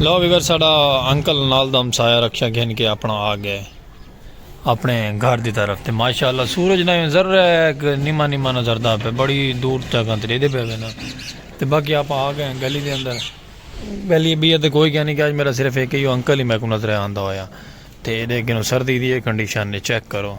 لو viewer ساڑا uncle نال دم سایہ رکھیا گھن کے اپنا آ گئے اپنے گھر دی طرف تے ماشاءاللہ سورج نہ نظر رہا ہے کہ نیما نیما نظر دا پہ بڑی دور تک انتری دے پہ وینا تے باقی آپ آ گئے گلی دے اندر گلی بھی ہے تے کوئی کہنی کہ آج میرا صرف ایک ہی انکل ہی میں کو نظر آندہ ہویا تے دے گنو سردی دی کنڈیشن نے چیک کرو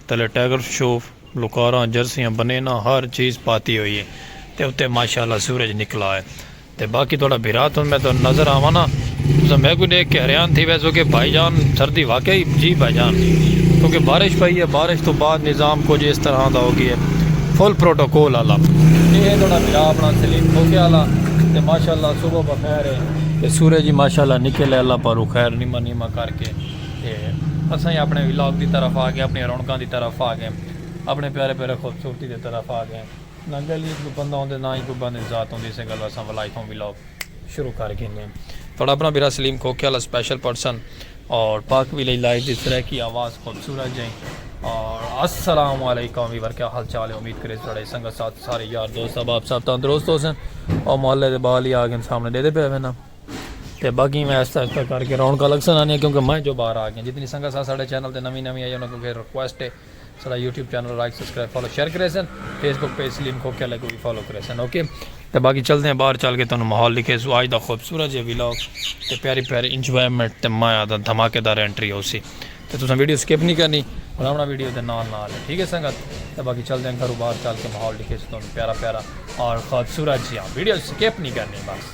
تلے ٹائیگر شوف، لوکاراں، جرسیاں، بنیناں ہر چیز پاتی ہوئی ہے تے اتے ماشاء اللہ سورج نکلا ہے تے باقی تہاڈا بھرا توں میں تہاڈے نظر آواں نا تساں میکوں ڈیکھ کے حیران تھی ویسو کہ بھائی جان سردی واقعی جی بھائی جان کیونکہ بارش پئی ہے بارش توں بعد نظام کچھ اس طرح دا ہو گیا ہے فل پروٹوکول والا تے اے تہاڈا بھرا اپنا سلیم کھوکھے والا تے ماشاء اللہ صبح بخیر ہے تے سورج ہی ماشاء اللہ نکل ہے اللہ پاروں خیر نیمہ نیمہ کر کے۔ تے اساں ہی اپنے ولاگ دی طرف آ گئے اپنی رونقاں دی طرف آ گئے اپنے پیارے پیارے خوبصورتی دی طرف آ گئے نہ گل ہی کوئی بندہ ہوندے نہ ہی کوئی بندے ذات ہوندی اسے گلو اساں ولائی تھوں ولاگ شروع کر گئے ہیں تھوڑا اپنا بیرا سلیم کھوکے والا سپیشل پرسن اور پاک بھی لئی لائف دی سریکی آواز خوبصورت جائیں اور السلام علیکم ویور کیا حال چال ہے امید کرے سڑے سنگت ساتھ سارے یار دوست اب آپ ساتھ تندرست ہو سن اور محلے دے بال ہی آگن سامنے دے دے پہ ہوئے نا تے باقی میں آہستہ آہستہ کر کے رونقاں لگسن آنیاں کیونکہ میں جو باہر آ گیاں جتنی سنگت سا ساڈے چینل تے نویں نویں آئی انہاں کوں پھر ریکویسٹ ہے ساڈا YouTube channel like subscribe follow share کریسن فیس بک پیج سلیم کو کیا لگو بھی فالو کریسن اوکے تے باقی چلدے ہیں باہر چل کے تانوں ماحول لکھے سو آج دا خوبصورت جے ویلاگ تے پیاری پیاری انجوائمنٹ تے مایا دا دھماکے دار انٹری ہوسی تے تساں ویڈیو سکپ نہیں کرنی بناونا ویڈیو دے نال نال ہے ٹھیک ہے سنگت تے باقی چلدے ہیں گھروں باہر چل کے ماحول لکھے سو تانوں پیارا پیارا اور خوبصورت جیاں ویڈیو سکپ نہیں کرنی بس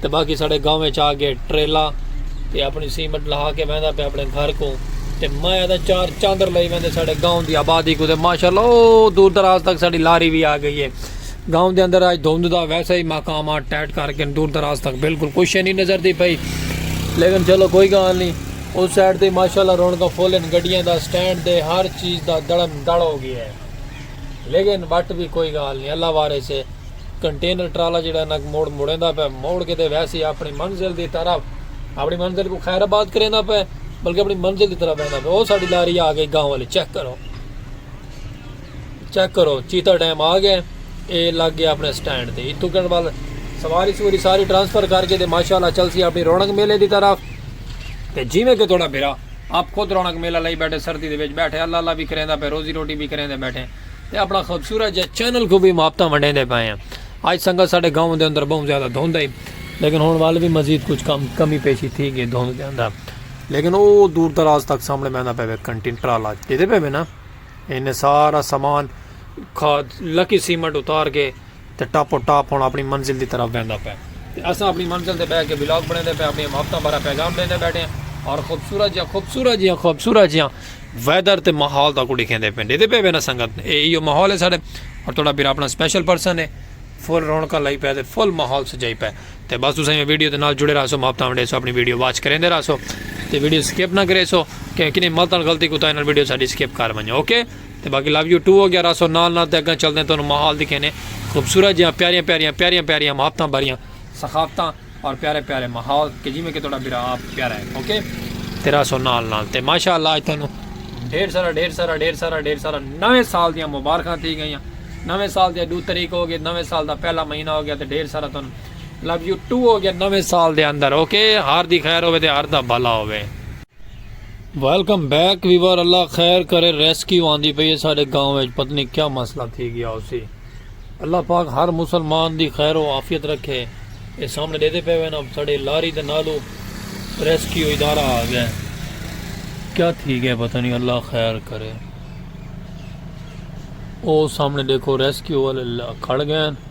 تے باقی ساڈے گاؤں وچ آ گئے ٹریلا تے اپنی سیمٹ لہا کے ویندا پیا اپنے گھر کو تے میں ادا چار چاندر لئی ویندے ساڈے گاؤں دی آبادی کو تے ماشاءاللہ او دور دراز تک ساڈی لاری وی آ گئی ہے گاؤں دے اندر اج دھند دا ویسے ہی مقامات ٹائٹ کر کے دور دراز تک بالکل کوئی شے نہیں نظر دی پئی لیکن چلو کوئی گال نہیں اس سائڈ تے ماشاءاللہ رونقاں فل ہیں گڈیاں دا سٹینڈ دے ہر چیز دا دڑم دڑ ہو گیا ہے لیکن وٹ بھی کوئی گال نہیں اللہ وارث ہے کنٹینر ٹرالا جڑا ہے نک موڑ موڑیندا پے موڑ کے دے ویسی اپنی منزل دی طرف اپنی منزل کو خیر آباد کریندا پے بلکہ اپنی منزل دی طرف بہندا پے او ساڈی لاری آ گئی گاؤں والے چیک کرو چیک کرو چیتا ڈیم آ گئے اے لگ گیا اپنے سٹینڈ تے اتو کن وال سواری سوری ساری ٹرانسفر کر کے دے ماشاءاللہ چل سی اپنی رونق میلے دی طرف تے جی میں کہ تھوڑا بھرا آپ خود رونق میلہ لئی بیٹھے سردی دے وچ بیٹھے اللہ اللہ بھی کریندا پے روزی روٹی بھی کریندا بیٹھے تے اپنا خوبصورت جے چینل کوں وی محبتاں ونڈیندے پئے ہیں اج سنگت ساڈے گاؤں دے اندر بہوں زیادہ دھند ہئی لیکن ہن ول وی مزید کچھ کم کمی پیشی تھی گئی دھند دے اندر لیکن او دور دراز تک سامنے ویندا پے وے کنٹین ٹرالا ڈیدے پے وے نا اینے سارا سامان کھاد لکی سیمنٹ اتار کے تے ٹاپو ٹاپ ہن اپݨی منزل دی طرف ویندا پئے تے اساں اپݨی منزل تے ٻہہ کے ولاگ بݨیندے پئے اپݨیاں محبتاں بارے پیغام ݙیندے ٻیٹھے ہیں اور خوبصورت جیہاں خوبصورت جیہاں خوبصورت جیہاں ویدر تے ماحول تہاکوں ݙیکھیندے پئے ہیں ݙیکھدے پئے وے نا سنگت اے ایہو ماحول ہے ساݙے اور تہاݙا بھرا اپݨا سپیشل پرسن ہے فل رونقاں لائی پئے تے فل ماحول سجائی پئے تے بس تساں ایویں ویڈیو دے نال جڑے رہسو محبتاں ونڈیسو اپݨی ویڈیو واچ کریندے رہسو تے ویڈیو سکپ نہ کریسو کہ کنیں ملتاں غلطی کوتاہی نال ویڈیو ساݙی سکپ کر ونڄو اوکے تے باقی لو یو ٹو ہو گیا راسو نال نال تے اگاں چلدیں تانوں ماحول دکھینے خوبصورت جیاں پیاریاں پیاریاں پیاریاں پیاریاں محبتاں بھریاں ثقافتاں اور پیارے پیارے ماحول کہ جی میں کہ تھوڑا برا آپ پیارا ہے اوکے تے راسو نال نال تے ماشاءاللہ اج تانوں ڈھیر سارا ڈھیر سارا ڈھیر سارا ڈھیر سارا نویں سال دیاں مبارکاں تھی گئیاں نویں سال دے دو تاریخ ہو گئے نویں سال دا پہلا مہینہ ہو گیا تے ڈھیر سارا تانوں لو یو ٹو ہو گیا نویں سال دے اندر اوکے ہر دی خیر ہوے تے ہر دا بھلا ہوے ویلکم بیک ویور اللہ خیر کرے ریسکیو آندی پئی ہے سارے گاؤں وچ پتہ نہیں کیا مسئلہ تھی گیا اسی اللہ پاک ہر مسلمان دی خیر و عافیت رکھے اے سامنے دے دے پے ہوئے نا ساڑے لاری دے نالو ریسکیو ادارہ آ گیا کیا تھی گیا پتہ نہیں اللہ خیر کرے او سامنے دیکھو ریسکیو والے کھڑ گئے ہیں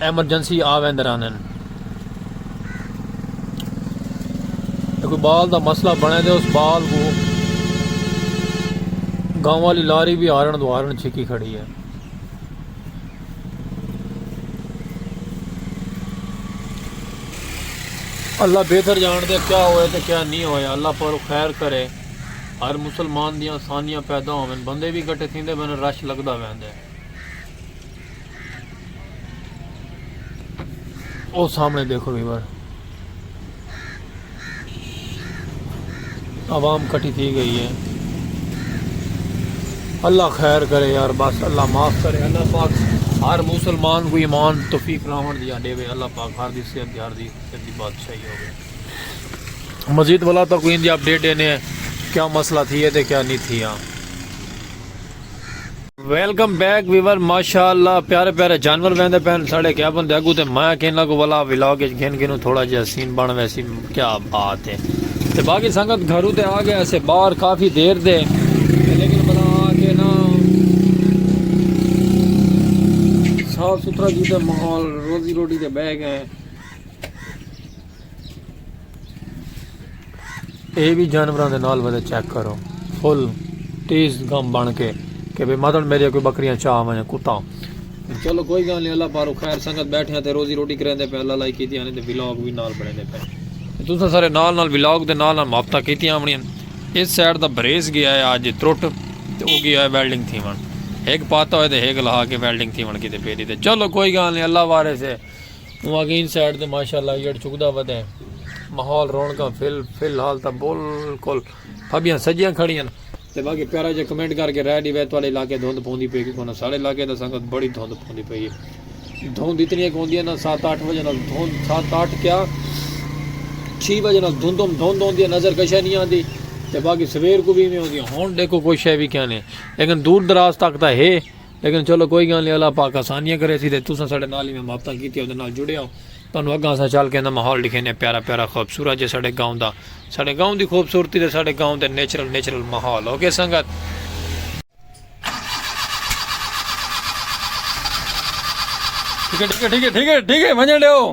ایمرجنسی آ ویندے رہندن تے کوئی بال دا مسئلہ بنے دے اس بال کو گاؤں والی لاری بھی ہارن دو ہارن چھکی کھڑی ہے اللہ بہتر جان دے کیا ہوئے تے کیا نہیں ہوئے اللہ پر خیر کرے ہر مسلمان دیاں آسانیاں پیدا ہوئے بندے بھی گھٹے تھیندے بن رش لگدا ویندے او سامنے دیکھو ویور عوام کٹی تھی گئی ہے اللہ خیر کرے یار بس اللہ معاف کرے اللہ پاک ہر مسلمان کو ایمان توفیق راون دیا دے وے اللہ پاک ہر دی صحت دی ہر دی صحت دی بادشاہی ہوے مزید والا تو کوئی اندی اپڈیٹ دینے کیا مسئلہ تھی ہے تے کیا نہیں تھی ہاں ویلکم بیک ویور ماشاءاللہ پیارے پیارے جانور ویندے پہن ساڑے کیا بندے اگو تے مایا کہنا کو والا ویلاگ اچ گھن گھنو تھوڑا جہا سین بن ویسی کیا بات ہے تے باقی سنگت گھرو تے آ گیا سے باہر کافی دیر دے لیکن بلا آ کے نا صاف ستھرا کیتے ماحول روزی روٹی تے بہ گئے اے وی جانوراں دے نال ودے چیک کرو فل تیز گم بن کے کہ بے مدن میرے کوئی بکریاں چاہ ونجے کتا چلو کوئی گل نہیں اللہ پارو خیر سنگت بیٹھے ہیں تے روزی روٹی کریں دے پہ اللہ لائی کیتی آنے تے ولاگ بھی نال بڑھیں دے پہ تساں سارے نال نال ولاگ دے نال نال ماپتا کیتی آمنی ہیں اس سائڈ دا بریز گیا ہے آج تروٹ تے او گیا ہے ویلڈنگ تھی ون ایک پاتا ہوئے تے ایک لہا کے ویلڈنگ تھی ون کی تے پیری تے چلو کوئی گل نہیں اللہ وارے سے اوں آکھیا ایں سائیڈ تے ماشاءاللہ ایڑھ چکدا ودا ہے ماحول رونقاں فل فی الحال تاں بالکل پھبیاں سجیاں کھڑیاں ہن تے باقی پیارا جے کمنٹ کر کے رائے ڈیوے تواڈے علاقے دھند پوندی پئی کہ کونا ساڈے علاقے دا سنگت بڑی دھند پوندی پئی ہے دھند اتنی ایک ہوندی ہے نا سات آٹھ بجے نال دھند سات آٹھ کیا چھی بجے نال دھندم دھند ہوندی ہے نظر کشا نہیں آندی تے باقی سویر کو بھی میں ہوندی ہن دیکھو کوئی شے بھی کیا نہیں لیکن دور دراز تک تاں ہے لیکن چلو کوئی گالھ نہیں اللہ پاک آسانیاں کرے سی تے تساں ساڈے نال ایویں محبتاں کیتیاں اوندے نال جڑے ہو تانوں اگاں اساں چل کے دا ماحول ڈکھینے پیارا پیارا خوبصورت جے ساڈے گاؤں دا ساڈے گاؤں دی خوبصورتی تے ساڈے گاؤں دے نیچرل نیچرل ماحول اوکے سنگت۔ ٹھیک ہے ٹھیک ہے ٹھیک ہے ٹھیک ہے ونجن ڈیو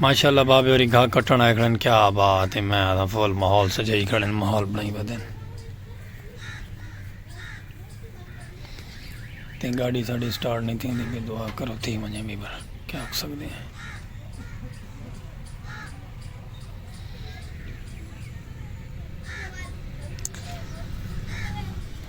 ماشاءاللہ بابے ہوری گھا کٹن آئے کھڑن کیا بات ہے میں آدھا فول ماحول سجائی کھڑن ماحول بنائی بدن تے گاڑی ساڑی سٹارٹ نہیں تھی ہوندی بھی دعا کرو تھی منجے بھی بھر کیا ہو سکتے ہیں